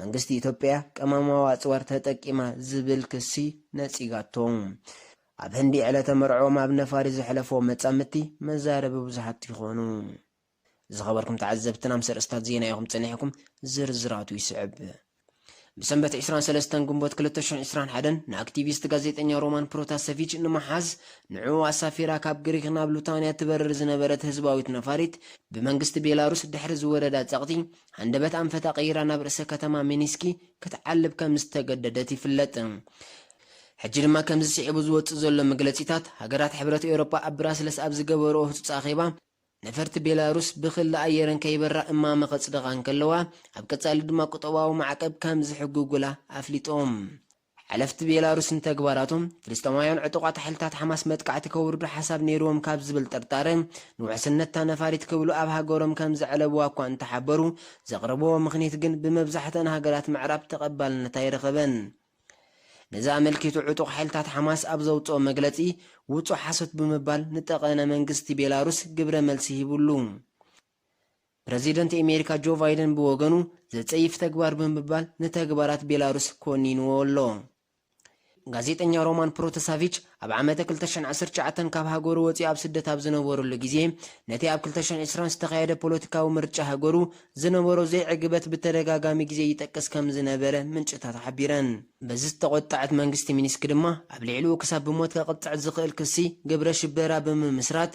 መንግስቲ ኢትዮጵያ ቀመማዊ ኣጽዋር ተጠቂማ ዝብል ክሲ ነጺጋቶ። ኣብ ህንዲ ዕለተ መርዕኦም ኣብ ነፋሪት ዘሕለፍዎ መጻምድቲ መዛረቢ ብዙሓት ይኾኑ። ዝኸበርኩም ተዓዘብትና ምስ ኣርእስታት ዜና ኢኹም ጸኒሕኩም፣ ዝርዝራቱ ይስዕብ። ብሰንበት ዕስራን ሰለስተን ግንቦት ክልተ ሽሕ ዕስራን ሓደን ንኣክቲቪስት ጋዜጠኛ ሮማን ፕሮታሰቪች ንምሓዝ ንዕኡ ኣሳፊራ ካብ ግሪክ ናብ ሉታንያ ትበርር ዝነበረት ህዝባዊት ነፋሪት ብመንግስቲ ቤላሩስ ድሕሪ ዝወረዳ ጸቕጢ ሃንደበት ኣንፈታ ቀይራ ናብ ርእሰ ከተማ ሚኒስኪ ክትዓልብ ከም ዝተገደደት ይፍለጥ። ሕጂ ድማ ከምዚ ስዒቡ ዝወጽእ ዘሎ መግለጺታት፣ ሃገራት ሕብረት ኤውሮጳ ኣብ ብራስለስ ኣብ ዝገበርኦ ህጹጽ ኣኼባ፣ ነፈርቲ ቤላሩስ ብክሊ ኣየረን ከይበራ እማመ ከጽድቓ እንከለዋ፣ ኣብ ቀጻሊ ድማ ቁጠባዊ ማዕቀብ ከም ዝሕግጉላ ኣፍሊጦም። ሓለፍቲ ቤላሩስ ንተግባራቶም፣ ፍልስጤማውያን ዕጡቓት ሓይልታት ሓማስ መጥቃዕቲ ከውርዱ ሓሳብ ነይርዎም ካብ ዝብል ጥርጣረ ንውሕስነት'ታ ነፋሪት ክብሉ ኣብ ሃገሮም ከም ዘዕለቡዋ እኳ እንተሓበሩ፣ ዘቕረቡዎ ምኽኒት ግን ብመብዛሕትኣን ሃገራት ምዕራብ ተቐባልነት ኣይረኸበን። ነዚ ኣመልኪቱ ዕጡቕ ሓይልታት ሓማስ ኣብ ዘውጽኦ መግለጺ፣ ውጹእ ሓሶት ብምባል ንጠቐነ መንግስቲ ቤላሩስ ግብረ መልሲ ሂቡሉ። ፕረዚደንት ኣሜሪካ ጆ ቫይደን ብወገኑ ዘጸይፍ ተግባር ብምባል ንተግባራት ቤላሩስ ኮኒንዎ ኣሎ። ጋዜጠኛ ሮማን ፕሮተሳቪች ኣብ ዓመተ ክልተ ሽሕን ዓሰርተ ትሽዓተን ካብ ሃገሩ ወጺኡ ኣብ ስደት ኣብ ዝነበረሉ ግዜ ነቲ ኣብ ክልተ ሽሕን ዕስራን ዝተኻየደ ፖለቲካዊ ምርጫ ሃገሩ ዝነበሮ ዘይዕግበት ብተደጋጋሚ ግዜ ይጠቅስ ከም ዝነበረ ምንጭታታ ሓቢረን። በዚ ዝተቖጠዐት መንግስቲ ሚንስክ ድማ ኣብ ልዕሊኡ ክሳብ ብሞት ከቕጽዕ ዝኽእል ክሲ ግብረ ሽበራ ብምምስራት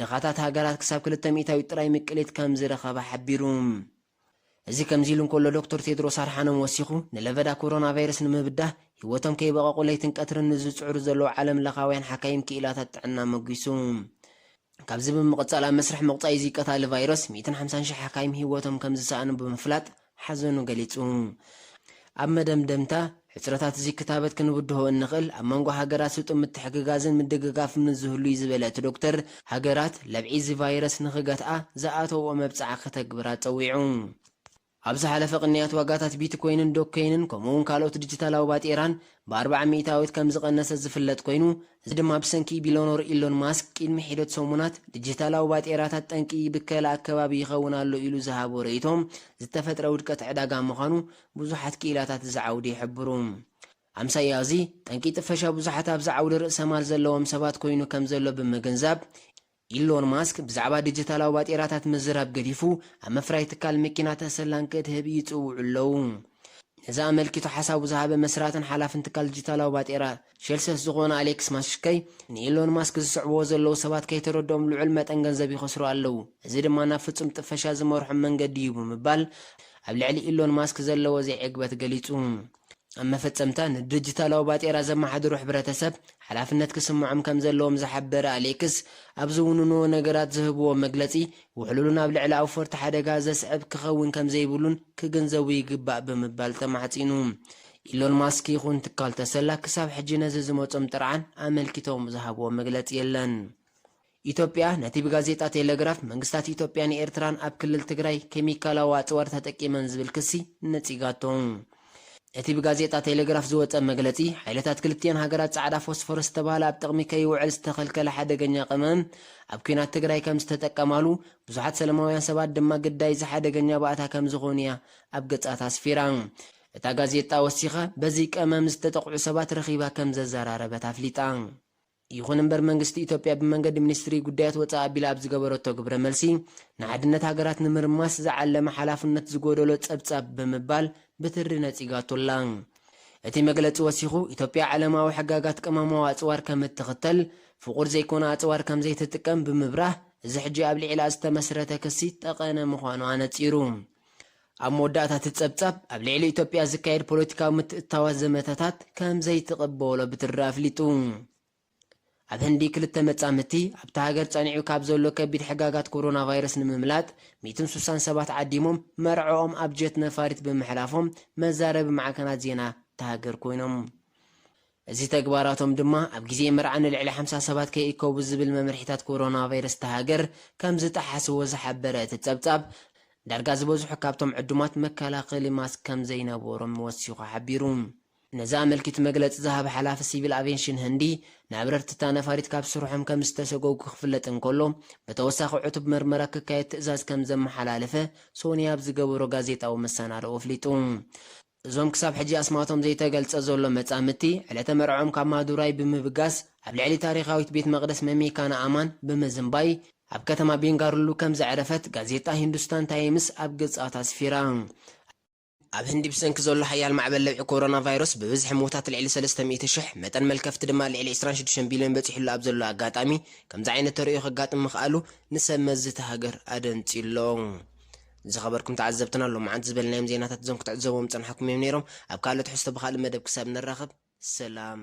ድኻታት ሃገራት ክሳብ ክልተ ሚእታዊት ጥራይ ምቅሊት ከም ዝረኸባ ሓቢሩ። እዚ ከምዚ ኢሉ እንከሎ ዶክተር ቴድሮስ ኣድሓኖም ወሲኹ፣ ንለበዳ ኮሮናቫይረስ ንምብዳህ ህይወቶም ከይበቐቑ ለይትን ቀትርን ንዝጽዕሩ ዘለዉ ዓለምለኻውያን ሓካይም ክኢላታት ጥዕና ኣመጒሱ። ካብዚ ብምቕጻል ኣብ መስርሕ ምቑጻይ እዚ ቀታሊ ቫይረስ ሚእትን ሓምሳን ሽሕ ሓካይም ህይወቶም ከም ዝሰኣኑ ብምፍላጥ፣ ሓዘኑ ገሊጹ። ኣብ መደምደምታ፣ ሕጽረታት እዚ ክታበት ክንብድሆ እንኽእል ኣብ መንጎ ሃገራት ስጡም ምትሕግጋዝን ምድግጋፍን ምስ ዝህሉ እዩ ዝበለ እቲ ዶክተር፣ ሃገራት ለብዒ እዚ ቫይረስ ንኽገትኣ ዝኣተውኦ መብጽዓ ከተግብራ ጸዊዑ። ኣብ ዝሓለፈ ቅንያት ዋጋታት ቢትኮይንን ዶግከይንን ከምኡ'ውን ካልኦት ዲጂታላዊ ባጤራን ብኣርብዓ ሚእታዊት ከምዝቐነሰ ዝፍለጥ ኮይኑ፣ እዚ ድማ ብሰንኪ ቢሎኖር ኢሎን ማስክ ቂድሚ ሒደት ሰሙናት ድጂታላዊ ባጤራታት ጠንቂ ብከላ ኣከባቢ ይኸውን ኣሎ ኢሉ ዝሃቦ ርእይቶ ዝተፈጥረ ውድቀት ዕዳጋ ምዃኑ ብዙሓት ክኢላታት እዚ ዓውዲ ይሕብሩ። ኣምሳያ እዚ ጠንቂ ጥፈሻ ብዙሓት ኣብዚ ዓውዲ ርእሰማል ዘለዎም ሰባት ኮይኑ ከምዘሎ ብምግንዛብ፣ ኢሎን ማስክ ብዛዕባ ዲጂታላዊ ባጤራታት ምዝራብ ገዲፉ ኣብ ምፍራይ ትካል መኪናታት ሰላም ከትህብ ይጽውዑ ኣለዉ። ነዚ ኣመልኪቱ ሓሳቡ ዝሃበ መስራትን ሓላፍን ትካል ዲጂታላዊ ባጤራ ሸልሰስ ዝኾነ ኣሌክስ ማሽከይ ንኢሎን ማስክ ዝስዕብዎ ዘለዉ ሰባት ከይተረድኦም ልዑል መጠን ገንዘብ ይኸስሩ ኣለዉ፣ እዚ ድማ ናብ ፍጹም ጥፈሻ ዝመርሖም መንገዲ'ዩ ብምባል ኣብ ልዕሊ ኢሎን ማስክ ዘለዎ ዘይዕግበት ገሊጹ። ኣብ መፈጸምታ፣ ንድርጅታላዊ ባጤራ ዘመሓድሩ ሕብረተሰብ ሓላፍነት ክስምዖም ከም ዘለዎም ዝሓበረ ኣሌክስ፣ ኣብ ዝውንንዎ ነገራት ዝህብዎ መግለጺ ውሕሉልን ኣብ ልዕሊ ኣውፈርቲ ሓደጋ ዘስዕብ ክኸውን ከም ዘይብሉን ክግንዘቡ ይግባእ ብምባል ተማሕጺኑ። ኢሎን ማስክ ይኹን ትካል ተሰላ ክሳብ ሕጂ ነዚ ዝመጾም ጥርዓን ኣመልኪቶም ዝሃብዎ መግለጺ የለን። ኢትዮጵያ ነቲ ብጋዜጣ ቴለግራፍ መንግስታት ኢትዮጵያን ኤርትራን ኣብ ክልል ትግራይ ኬሚካላዊ ኣጽዋር ተጠቂመን ዝብል ክሲ ነጺጋቶ። እቲ ብጋዜጣ ቴለግራፍ ዝወጸ መግለጺ፣ ሓይልታት ክልቲኤን ሃገራት ጻዕዳ ፎስፎረስ ዝተባህለ ኣብ ጥቕሚ ከይውዕል ዝተኸልከለ ሓደገኛ ቀመም ኣብ ኲናት ትግራይ ከም ዝተጠቀማሉ፣ ብዙሓት ሰለማውያን ሰባት ድማ ግዳይ እዚ ሓደገኛ ባእታ ከም ዝኾኑ እያ ኣብ ገጻታ ኣስፊራ። እታ ጋዜጣ ወሲኻ፣ በዚ ቀመም ዝተጠቕዑ ሰባት ረኺባ ከም ዘዘራረበት ኣፍሊጣ። ይኹን እምበር መንግስቲ ኢትዮጵያ ብመንገዲ ሚኒስትሪ ጉዳያት ወፃኢ ኣቢላ ኣብ ዝገበረቶ ግብረ መልሲ ንሓድነት ሃገራት ንምርማስ ዝዓለመ ሓላፍነት ዝጎደሎ ፀብፃብ ብምባል ብትሪ ነፂጋቶ ኣላ። እቲ መግለፂ ወሲኹ ኢትዮጵያ ዓለማዊ ሕጋጋት ቅመማዊ ኣፅዋር ከምትኽተል ፍቑድ ዘይኮነ ኣፅዋር ከምዘይትጥቀም ብምብራህ እዚ ሕጂ ኣብ ልዒላ ዝተመስረተ ክሲ ጠቐነ ምዃኑ ኣነፂሩ። ኣብ መወዳእታ እቲ ጸብጻብ፣ ኣብ ልዕሊ ኢትዮጵያ ዝካየድ ፖለቲካዊ ምትእትታዋት ዘመተታት ከም ዘይትቕበሎ ብትሪ ኣፍሊጡ። ኣብ ህንዲ ክልተ መጻምድቲ፣ ኣብታ ሃገር ጸኒዑ ካብ ዘሎ ከቢድ ሕጋጋት ኮሮናቫይረስ ንምምላጥ ሚእትን ሱሳን ሰባት ዓዲሞም መርዕኦም ኣብ ጀት ነፋሪት ብምሕላፎም መዛረቢ ማዕከናት ዜና እታ ሃገር ኮይኖም። እዚ ተግባራቶም ድማ ኣብ ግዜ መርዓ ንልዕሊ ሓምሳ ሰባት ከይእከቡ ዝብል መምርሒታት ኮሮናቫይረስ እታ ሃገር ከምዝጠሓስዎ ዝሓበረ እቲ ጸብጻብ፣ ዳርጋ ዝበዝሑ ካብቶም ዕዱማት መከላኸሊ ማስክ ከምዘይነበሮም ወሲኹ ሓቢሩ። ነዚ ኣመልኪቱ መግለጺ ዝሃበ ሓላፊ ሲቪል ኣቬንሽን ህንዲ፣ ንኣብረርቲ እታ ነፋሪት ካብ ስርሖም ከምዝተሰጎጉ ክፍለጥ እንከሎ፣ ብተወሳኺ ዕቱብ መርመራ ክካየድ ትእዛዝ ከምዘመሓላለፈ ሶኒ ኣብ ዝገበሮ ጋዜጣዊ መሰናድኦ ኣፍሊጡ። እዞም ክሳብ ሕጂ ኣስማቶም ዘይተገልጸ ዘሎ መጻምድቲ፣ ዕለተ መርዕኦም ካብ ማዱራይ ብምብጋስ ኣብ ልዕሊ ታሪኻዊት ቤት መቕደስ መሜካና ኣማን ብምዝንባይ ኣብ ከተማ ቤንጋሩሉ ከም ዘዕረፈት ጋዜጣ ሂንዱስታን ታይምስ ኣብ ገጻት ኣስፊራ። ኣብ ህንዲ ብሰንኪ ዘሎ ሓያል ማዕበል ለብዒ ኮሮና ቫይረስ ብብዝሒ ሞታት ልዕሊ ሰለስተ ሚእቲ ሽሕ፣ መጠን መልከፍቲ ድማ ልዕሊ ዕስራን ሽዱሽተን ቢልዮን በጺሕሉ ኣብ ዘሎ ኣጋጣሚ ከምዚ ዓይነት ተርእዮ ከጋጥም ምኽኣሉ ንሰብ መዚ እታ ሃገር ኣደንጺዩ'ሎ። ዝኸበርኩም ተዓዘብትና ሎምዓንቲ ዝበልናዮም ዜናታት እዞም ክትዕዘብዎም ዝጸናሕኩም እዮም ነይሮም። ኣብ ካልእ ትሕዝቶ ብኻልእ መደብ ክሳብ ንራኸብ ሰላም።